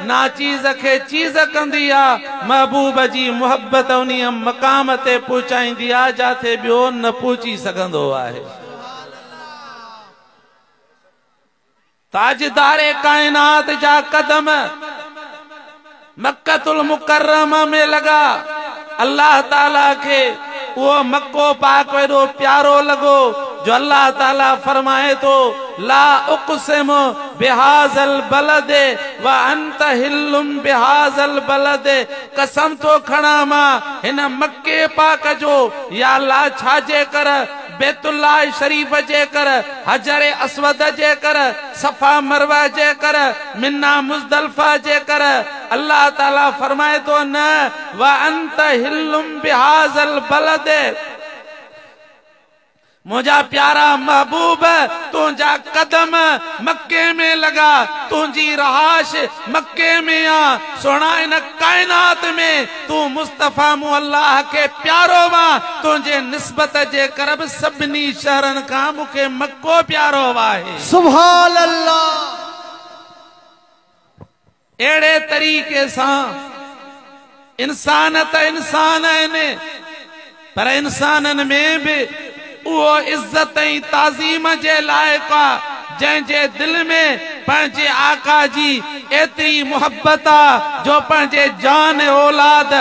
ناچيز کي چيز ڪندي آ، محبوب جي محبت انهيء مقام تي پهچائيندي آ، جاتي ٻيو نه پهچي سگهندو آهي. تاجدار ڪائنات جا قدم مڪة المڪرمة ۾ لڳا. الله تعاليٰ کي اهو مڪو پاڪ ايڏو پيارو لڳو جو الله تعاليٰ فرمائي ٿو، لا اقسم بهذا البلد وانت حل بهذا البلد قسم ٿو کڻان مان هن مڪي پاڪ جو يا الله ڇا جي ڪر بيت الله شريف جي ڪر حجر اسود جي ڪر صفا مروه جي ڪر منيٰ مزدلفه جي ڪر. الله تعالي فرمائي ٿو نه وانت حل بهذا البلد منهنجا پيارا محبوب تنهنجا قدم مڪي ۾ لڳا تنهنجي رهائش مڪي ۾ آ سهڻا ان ڪائنات ۾ تون مصطفيٰ مون الله کي پيارو وا تنهنجي نسبت جي ڪر به سڀني شهرن کان مون کي مڪو پيارو آهي سبحان الله اهڙي طريقي سان انسان ته انسان آهن پر انسانن ۾ به اهو عزت ۽ تعظيم جي لائق آ جنهن جي دل ۾ پنهنجي آقا جي ايتري محبت آ جو پنهنجي جان اولاد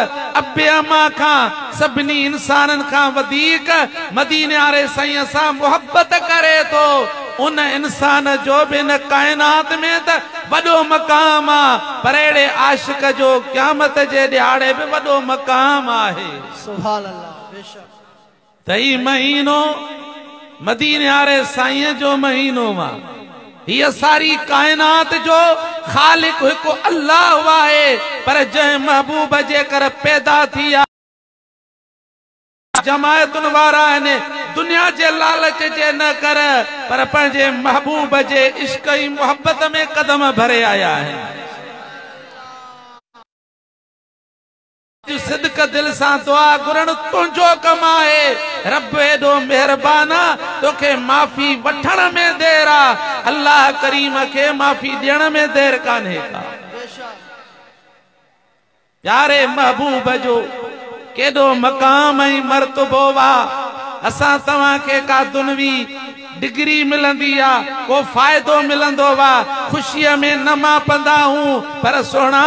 اب اما کان سڀني انسانن کان وڌيڪ مديني واري سائين سان محبت ڪري ٿو. ان انسان جو به هن ڪائنات ۾ ته وڏو مقام آ پر اهڙي عاشق جو قيامت جي ڏهاڙي به وڏو مقام آهي. سبحان الله بيشڪ. ته هي مهينو مديني واري سائين جو مهينو آ. هيء ساري ڪائنات جو خالق هڪ الله آهي پر جنهن محبوب جيڪر پيدا ٿي آ. جماعتن وارا آهن دنيا جي لالچ جي نه ڪر پر پنهنجي محبوب جي عشق ۽ محبت ۾ قدم ڀري آيا آهن صدق دل سان دعا گهرڻ تنهنجو ڪم آهي رب ايڏو مهربان آ توکي معافي وٺڻ ۾ دير آ الله ڪريم کي معافي ڏيڻ ۾ دير ڪانهي ڪا. پياري محبوب جو ڪيڏو مقام ۽ مرتبو وا اسان توهان کي ڪا دنوي ڊگري ملندي يا ڪو فائدو ملندو وا خوشي ۾ نه ماپندا هون پر سهڻا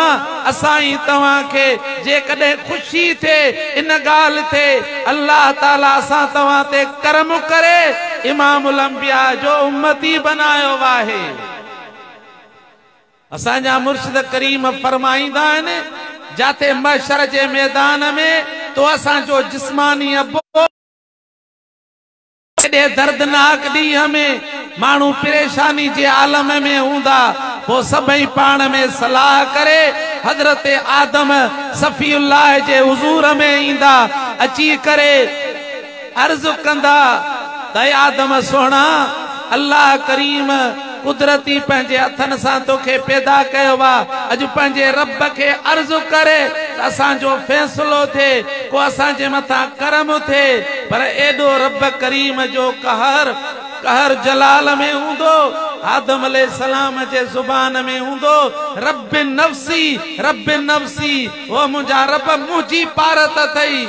اسان ۽ توهان کي جيڪڏهن خوشي ٿئي ان ڳالهه تي الله تعالي اسان توهان تي ڪرم ڪري امام الانبياء جو امتي بنايو آهي. اسان جا مرشد ڪريم فرمائيندا آهن، جاتي محشر جي ميدان ۾ تو اسان جو جسماني ابو، ايڏي دردناڪ ڏينهن ۾ ماڻهو پريشاني جي عالم ۾ هوندا، پوء سڀئي پاڻ ۾ صلاح ڪري حضرت آدم صفي الله جي حضور ۾ ايندا، اچي ڪري. عرض ڪندا ته اي آدم سهڻا! الله ڪريم قدرتي پنهنجي هٿن سان توکي پيدا ڪيو آ، اڄ پنهنجي رب کي عرض ڪر ته اسان جو فيصلو ٿئي، ڪو اسان جي مٿان ڪرم ٿئي، پر ايڏو رب ڪريم جو قهر، قهر جلال ۾ هوندو، آدم عليه السلام جي زبان ۾ هوندو، ربّ نفسي، ربّ نفسي، او منهنجا رب! منهنجي پارت اٿئي.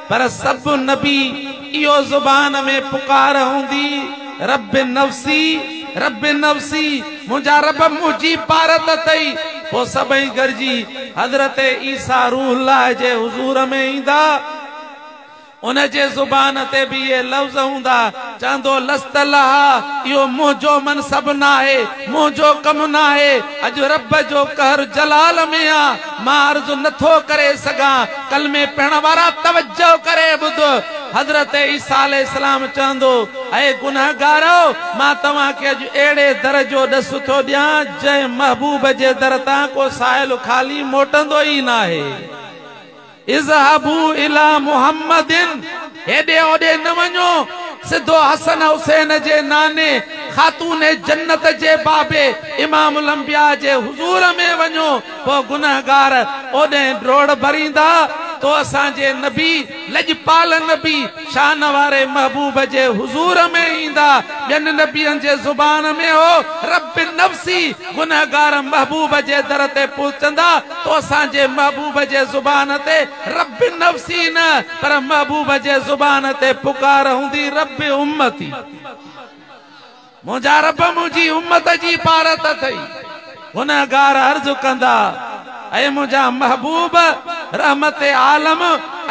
پر سڀ نبي اهو زبان ۾ پڪار هوندي، رب نفسي رب نفسي، منهنجا رب منهنجي پارت اٿئي، پوء سڀئي گڏجي حضرت عيسيٰ روح الله جي حضور ۾ ايندا، ان جي زبان تي به اهي لفظ هوندا، چوندو لست لها، اهو منهنجو منصب ناهي، منهنجو ڪم ناهي، اڄ رب جو قهر جلال ۾ آ. مان عرض نه ٿو ڪري سگهان. ڪلمي پڙهڻ وارا توجه ڪري ٻڌ. حضرت عيسيٰ عليه السلام چوندو، اي گنهگارؤ! مان توهان کي اڄ اهڙي در جو ڏس ٿو ڏيان، جنهن محبوب جي در تان ڪو سائل خالي موٽندو ئي ناهي. اذهبوا الي محمد، هيڏي هوڏي نه وڃو، سڌو حسن حسين جي ناني خاتون جنت جي بابي امام الانبياء جي حضور ۾ وڃو. پوء گنهگار اوڏهين ڊوڙ ڀريندا تو اسان جي نبي لڄپال نبي شان واري محبوب جي حضور ۾ ايندا ٻين نبين جي زبان ۾ هو رب نفسي گنهگار محبوب جي در تي پهچندا تو اسان جي محبوب جي زبان تي رب نفسي نه پر محبوب جي زبان تي پڪار هوندي رب امتي. منهنجا رب منهنجي امت جي پارت اٿئي، گنهگار عرض ڪندا، اي منهنجا محبوب! رحمت عالم!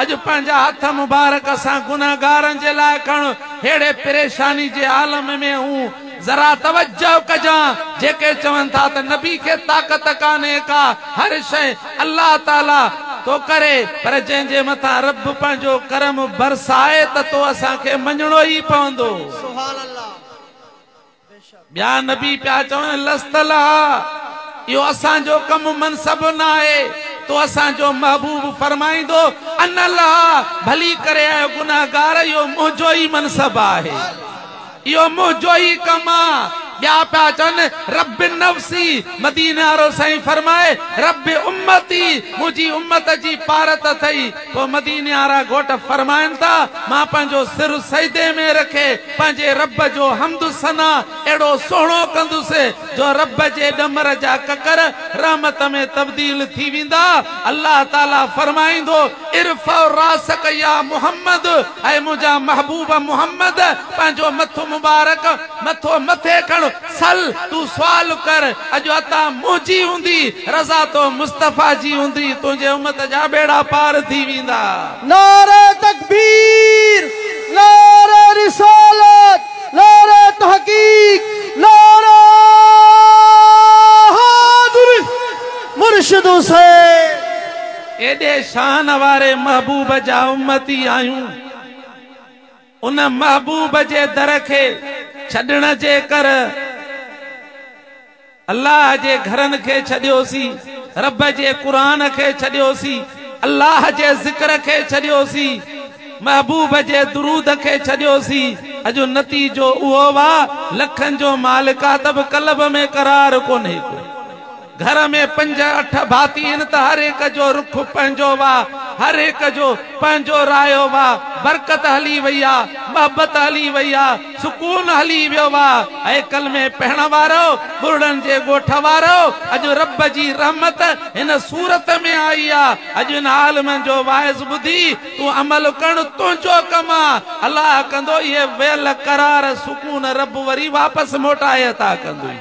اڄ پنهنجا هٿ مبارڪ اسان گنهگارن جي لاء کڻ، ههڙي پريشاني جي عالم ۾ هون، ذرا توجه ڪجان، جيڪي چون ٿا ته نبي کي طاقت ڪانهي ڪا، هر شيء الله تعاليٰ ٿو ڪري، پر جنهن جي مٿان رب پنهنجو ڪرم برسائي ته تو اسان کي مڃڻو ئي پوندو. ٻيا نبي پيا چون لست لها اهو اسان جو ڪم منصب ناهي تو اسان جو محبوب فرمائيندو ان لها ڀلي ڪري اي گنهگار اهو منهنجو ئي منصب آهي اهو منهنجو ئي ڪم آ ٻيا پيا چون رب نفسي مديني وارو سائين فرمائي رب امتي منهنجي امت جي پارت اٿئي پوء مديني وارا گهوٽ فرمائن ٿا، مان پنهنجو سر سجدي ۾ رکي پنهنجي رب جو حمد و ثنا اهڙو سهڻو ڪندس جو رب جي ڏمر جا ڪڪر رحمت ۾ تبديل ٿي ويندا. الله تعاليٰ فرمائيندو، ارفع راسک يا محمد، اي منهنجا محبوب محمد! پنهنجو مٿو مبارڪ، مٿو مٿي کڻ، سل تون سوال ڪر اڄ عطا منهنجي هوندي رضا تو مصطفيٰ جي هوندي تنهنجي امت جا ٻيڙا پار ٿي ويندا. نعري تڪبير نعري رسالت نعري تحقيق نعري حيدري مرشد حسين. ايڏي شان واري محبوب جا امتي آهيون. ان محبوب جي در کي ڇڏڻ جي ڪر الله جي گهرن کي ڇڏيوسين، رب جي قرآن کي ڇڏيوسين، الله جي ذڪر کي ڇڏيوسين، محبوب جي درود کي ڇڏيوسين، اڄ نتيجو اهو آ لکن جو مالڪ آ ته به قلب ۾ قرار ڪونهي ڪو. گهر ۾ پنج اٺ ڀاتي هن ته هر هڪ جو رخ پنهنجو وا هر هڪ جو پنهنجو رايو وا برڪت هلي وئي آ محبت هلي وئي آ سڪون هلي ويو وا اي ڪلمي پڙهڻ وارؤ ٻرڙن جي ڳوٺ وارؤ اڄ رب جي رحمت هن صورت ۾ آئي آ اڄ هن عالمن جو واعظ ٻڌي تون عمل ڪرڻ تنهنجو ڪم آ الله ڪندو اهي ويل قرار سڪون رب وري واپس موٽائي عطا ڪندوئي.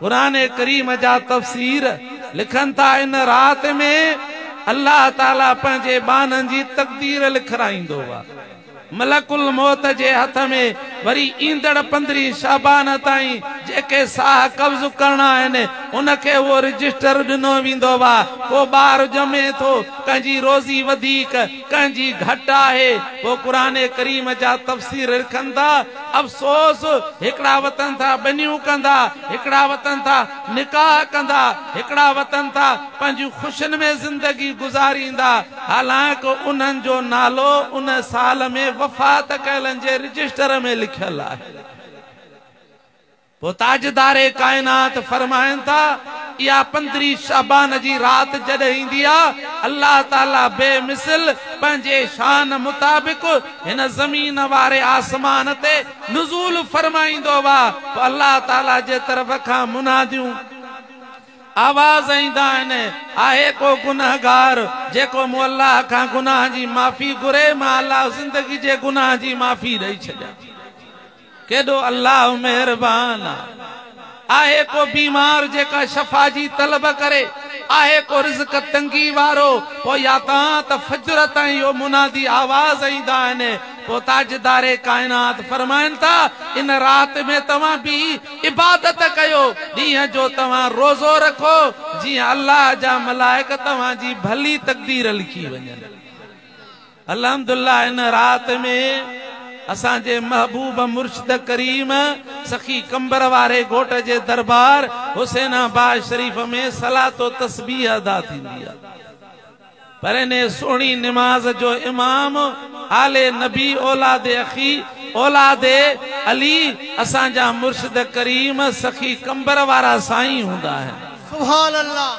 قرآن ڪريم جا تفسير لکن ٿا ان رات ۾ الله تعالي پنهنجي ٻانهن جي تقدير لکرائيندو و ملڪ الموت جي هٿ ۾ وري ايندڙ پندرهين شعبان تائين جيڪي ساهه قبض ڪرڻا آهن ان کي اهو رجسٽر ڏنو ويندو و ڪو ٻار ڄمي ٿو ڪنهن جي روزي وڌيڪ ڪنهن جي گهٽ آهي پوء قرآن ڪريم جا تفسير رکن ٿا افسوس هڪڙا وتن ٿا ٻنيون ڪندا هڪڙا وتن ٿا نڪاح ڪندا هڪڙا وتن ٿا پنهنجيون خوشين ۾ زندگي گذاريندا حالانڪ انهن جو نالو ان سال ۾ وفات ڪيلن جي رجسٽر ۾ لکيل آهي. پوء تاجدار ڪائنات فرمائن ٿا، اها پندرهين شعبان جي رات جڏهن ايندي آ، الله تعالي بي مثل پنهنجي شان مطابق هن زمين واري آسمان تي نزول فرمائيندو آ، پوء الله تعالي جي طرف کان مناديون، آواز، ايندا آهن، آهي ڪو گنهگار جيڪو مون الله کان گناهن جي معافي گهري، مان الله زندگي جي گناهن جي معافي ڏئي ڇڏيان ٿي. ڪيڏو الله مهربان آ. آهي ڪو بيمار جيڪا شفا جي طلب ڪري، آهي ڪو رزق تنگي وارو، پوء يا ته آن ته فجر تائين اهو منادي آواز ايندا آهن، پوء تاجدار ڪائنات فرمائن ٿا، ان رات ۾ توهان بيهي عبادت ڪيو، ڏينهن جو توهان روزو رکو، جيئن الله جا ملائڪ توهان جي ڀلي تقدير لکي وڃن. الحمدالله ان رات ۾ اسان جي محبوب مرشد ڪريم سخي قمبر واري گهوٽ جي دربار حسين آباد شريف ۾ صلات و تسبيح ادا ٿيندي آهي پر انهي سهڻي نماز جو امام آل نبي اولاد اخي اولاد علي اسان جا مرشد ڪريم سخي قمبر وارا سائين هوندا آهن. سبحان الله.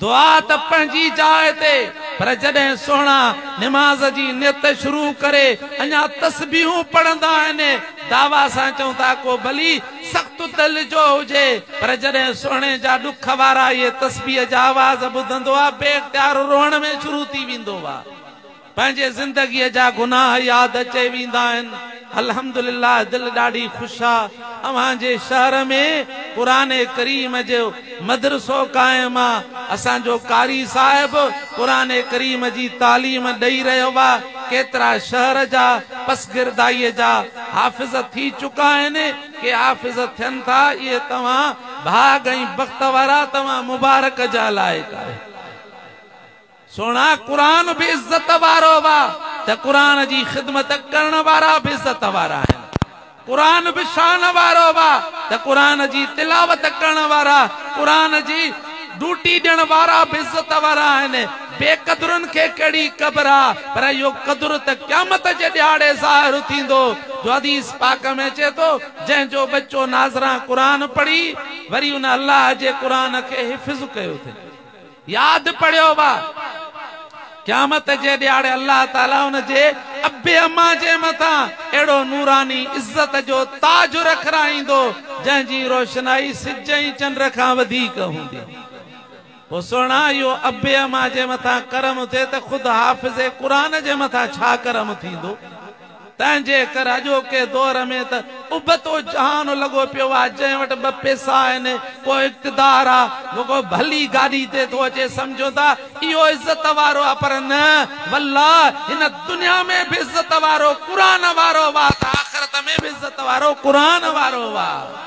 دعا ته پنهنجي جاء تي پر جڏهن سهڻا نماز جي نيت شروع ڪري اڃا تسبيحون پڙهندا آهن دعويٰ سان چون ٿا ڪو ڀلي سخت دل جو هجي پر جڏهن سهڻي جا ڏک وارا اهي تسبيح جا آواز ٻڌندو آ بي اختيار روئڻ ۾ شروع ٿي ويندو آ. پنهنجي زندگيء جا گناهه ياد اچي ويندا آهن. الحمدلله دل ڏاڍي خوش آ اوهان جي شهر ۾ قرآن ڪريم جو مدرسو قائم آ اسان جو قاري صاحب قرآن ڪريم جي تعليم ڏئي رهيو آ ڪيترا شهر جا پسگردائي جا حافظ ٿي چڪا آهن ڪي حافظ ٿين ٿا اهي توهان ڀاڳ ۽ بخت وارا توهان مبارڪ جا لائق آهيو. سهڻا قرآن به عزت وارو وئا ته قرآن جي خدمت ڪرڻ وارا به عزت وارا آهن. قرآن به شان وارو وئا ته قرآن جي تلاوت ڪرڻ وارا، قرآن جي ڊوٽي ڏيڻ وارا به عزت وارا آهن. بي قدرن کي ڪهڙي قبر آ پر اهو قدر ته قيامت جي ڏهاڙي ظاهر ٿيندو جو حديث پاڪ ۾ اچي ٿو جنهن جو ٻچو ناظران قرآن پڙهي وري ان الله جي قرآن کي حفظ ڪيو اٿئي. ياد پڙيو وا قيامت جي ڏياڙي الله تعالي ان جي ابي اما جي مٿان اهڙو نوراني عزت جو تاج رکرائيندو جنهن جي روشنائي سج ۽ چنڊ کان وڌيڪ هوندي پوء سهڻا اهو ابي اما جي مٿان ڪرم ٿئي ته خود حافظ قرآن جي مٿان ڇا ڪرم ٿيندو. تنهنجي ڪري اڄوڪي دور ۾ ته ابتو جهان لڳو پيو آهي، جنهن وٽ ٻه پيسا آهن، ڪو اقتدار آهي، ڪو ڀلي گاڏي تي ٿو اچي، سمجهون ٿا اهو عزت وارو آهي، پر نه والله هن دنيا ۾ به عزت وارو قرآن وارو آهي ته آخرت ۾ به عزت وارو قرآن وارو آهي.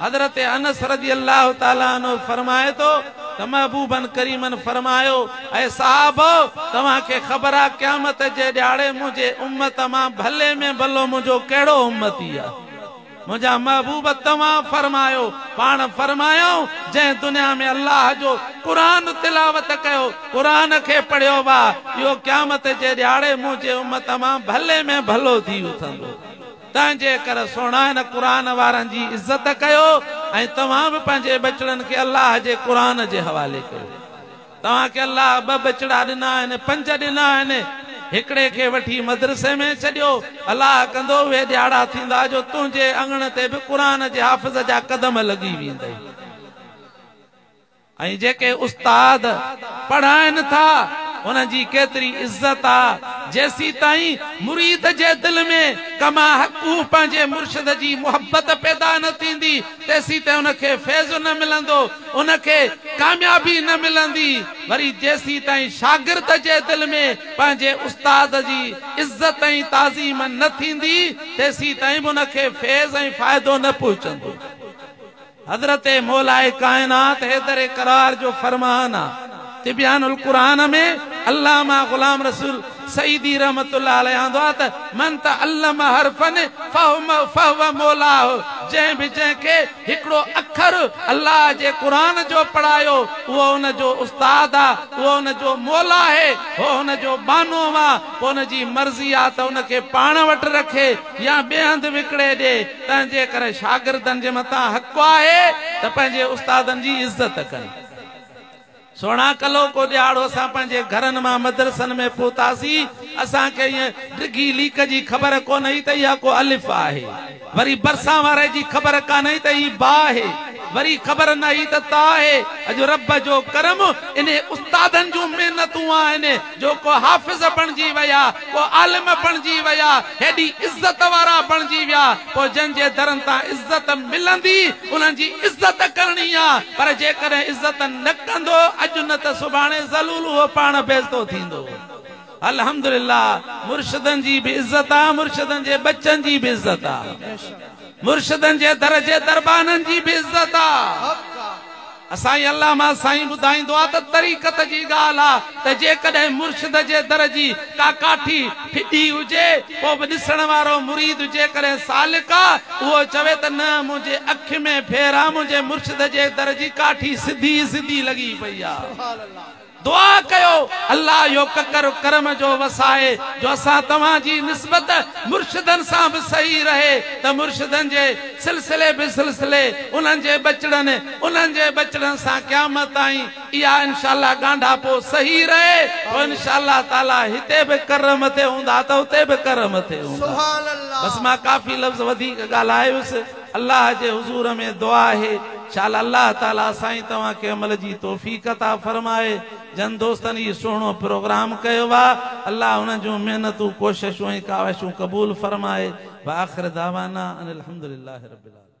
حضرت انس رضي الله تعالٰي عنه فرمائي ٿو ته محبوبًا ڪريمًا فرمايو، اي صحابؤ! توهان کي خبر آ قيامت جي ڏهاڙي منهنجي امت مان ڀلي ۾ ڀلو منهنجو ڪهڙو امتي آ؟ منهنجا محبوب توهان فرمايو، پاڻ فرمايائون، جنهن دنيا ۾ الله جو قرآن تلاوت ڪيو، قرآن کي پڙهيو، واه! اهو قيامت جي ڏهاڙي منهنجي امت مان ڀلي ۾ ڀلو ٿي اٿندو. تنهنجي ڪري سهڻا هن قرآن وارن جي عزت ڪيو ۽ توهان به پنهنجي ٻچڙن کي الله جي قرآن جي حوالي ڪيو. توهان کي الله ٻه ٻچڙا ڏنا آهن، پنج ڏنا آهن. هڪڙي کي وٺي مدرسي ۾ ڇڏيو. الله ڪندو اهي ڏياڙا ٿيندا جو تنهنجي اڱڻ تي به قرآن جي حافظ جا قدم لڳي ويندئي. ۽ جيڪي استاد پڙهائن ٿا انهن جي ڪيتري عزت آ جيسيتائين مريد جي دل ۾ ڪما حقه پنهنجي مرشد جي محبت پيدا نه ٿيندي تيسيتائين ان کي فيض نه ملندو ان کي ڪاميابي نه ملندي وري جيسيتائين شاگرد جي دل ۾ پنهنجي استاد جي عزت ۽ تعظيم نه ٿيندي تيسيتائين به ان کي فيض ۽ فائدو نه پهچندو. حضرت مولائي ڪائنات حيدر قرار جو فرمان آ. تبيان القرآن ۾ علامه غلام رسول سعيدي رحمة الله عليه آندو آ ته، من تعلم حرفا فهو مولاه جنهن به جنهن کي هڪڙو اکر الله جي قرآن جو پڙهايو اهو ان جو استاد آ، اهو ان جو مولا آهي، هو ان جو ٻانهو آ، پوء ان جي مرضي آ ته ان کي پاڻ وٽ رکي يا ٻئي هنڌ وڪڻي ڏي. تنهنجي ڪري شاگردن جي مٿان حق آهي ته پنهنجي استادن جي عزت ڪن. سهڻا ڪلهوڪو ڏيهاڙو اسان پنهنجي گهرن مان مدرسن ۾ پهتاسين، اسان کي ايئن ڊگهي ليڪ جي خبر ڪونه هئي ته اها ڪو الف آهي، وري برسان واري جي خبر ڪانه هئي ته هي با آهي، وري خبر نه هئي ته تا آهي، اڄ رب جو ڪرم انهي استادن جون محنتون آهن جو ڪو حافظ بڻجي ويا، ڪو عالم بڻجي ويا، هيڏي عزت وارا بڻجي ويا، پوء جن جي درن تان عزت ملندي، انهن جي عزت ڪرڻي آ، پر جيڪڏهن عزت نه ڪندو، اڄ نه ته سڀاڻي ذلول اهو پاڻ بيزتو ٿيندو. الحمدلله مرشدن جي به عزت آ، مرشدن جي ٻچن جي به عزت آ، مرشدن جي در جي دربانن جي به عزت آ. سائين علامه سائين ٻڌائيندو آ ته طريقت جي ڳالهه آ ته جيڪڏهن مرشد جي در جي ڪا ڪاٺي ڦڏي هجي پوء به ڏسڻ وارو مريد جيڪڏهن سالڪ آ اهو چوي ته نه منهنجي اک ۾ ڦير آ منهنجي مرشد جي در جي ڪاٺي سڌي سڌي لڳي پئي آ. دعا ڪيو الله اهو ڪڪر ڪرم جو وسائي جو اسان توهان جي نسبت مرشدن سان به صحيح رهي ته مرشدن جي سلسلي به سلسلي انهن جي ٻچڙن انهن جي ٻچڙن سان قيامت تائين اها انشاء الله ڳانڍاپو صحيح رهي تو انشاء الله تعالي هتي به ڪر مٿي هوندا ته اتي به ڪر مٿي هوندا بس مان ڪافي لفظ وڌيڪ ڳالهايس. الله جي حضور ۾ دعا آهي شال الله تعالي سائين توهان کي عمل جي توفيق عطا فرمائي جن دوستن هي سهڻو پروگرام ڪيو آ الله انهن جون محنتون ڪوششون ۽ ڪاوشون قبول فرمائي واخر دعوانا ان الحمدلله رب العالمين.